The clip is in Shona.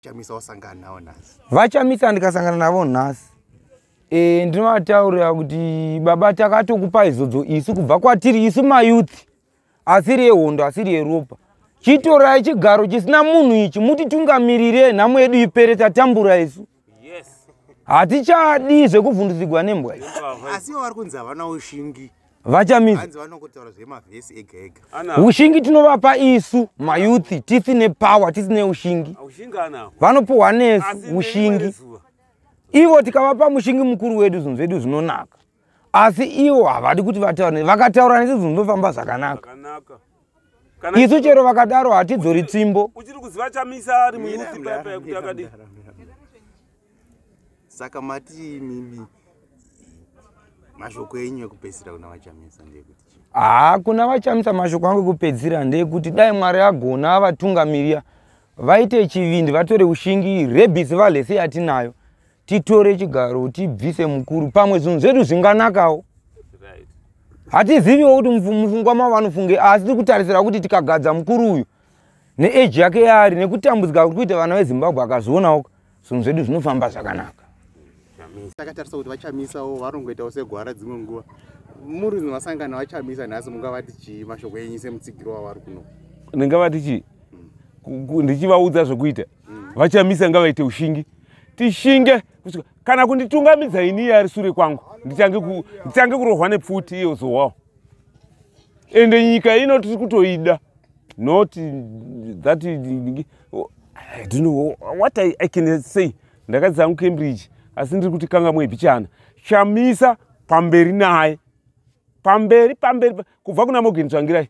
chamisa wasangana navo nhasi vachamisa ndikasangana navo nhasi e, ndinovataurira kuti baba takatokupa izodzo isu kubva kwatiri isu mayouth asiri yehondo asiri yeropa chitorai chigaro chisina munhu ichi mutitungamirirei nhamo yedu ipere tatambura isu hatichadi zvekuvhundudzigwa nembwa asi ivo vari kunzi havana ushingi vachamisa ushingi tinovapa isu mayouth tisine power tisine ushingi vanopuhwa nesu ushingi ivo tikavapa mushingi mukuru wedu zvinhu zvedu zvinonaka asi ivo havadi kuti vataure vakataura nesi zvinhu zvinofamba zvakanaka isu chero vakadaro hatidzori tsimbo saka mati mimi mashoko enyu ekupedzisira kuna vachamisa ndeyekuti haa kuna vachamisa mashoko angu ekupedzisira ndeyekuti dai mwari agona vatungamiriya vaite chivindi vatore ushingi rebisi valese yatinayo titore chigaro tibvise mukuru pamwe zvinhu zvedu zvinganakawo hatiziviwo kuti mufungwa mavo vanofunge asi tiri kutarisira kuti tikagadza mukuru uyu neeji yake yaari nekutambudzika kuri kuita vana vezimbabwe akazvionawo zvinhu zvedu zvinofamba zvakanaka takatarisa kuti vachamisawo varongoitawo segwara dzimwe nguva muri vasangana vachamisa nhasi mungavati chii mashoko enyu semutsigiro wavari kuno ndingavati chii ndichivaudza zvekuita mm. vachamisa ngavaite ushingi tishinge kana kunditungamidza ini iye ari sure kwangu ndichange kurohwa nepfuti iyo zowawo ende nyika ino tiri kutoida not that i don't know what i, I can say ndakadzi zangu cambridge asi ndiri kuti kanga mwebichana chamisa pamberi naye pamberi pamberi kubva kuna mogen tsvangirai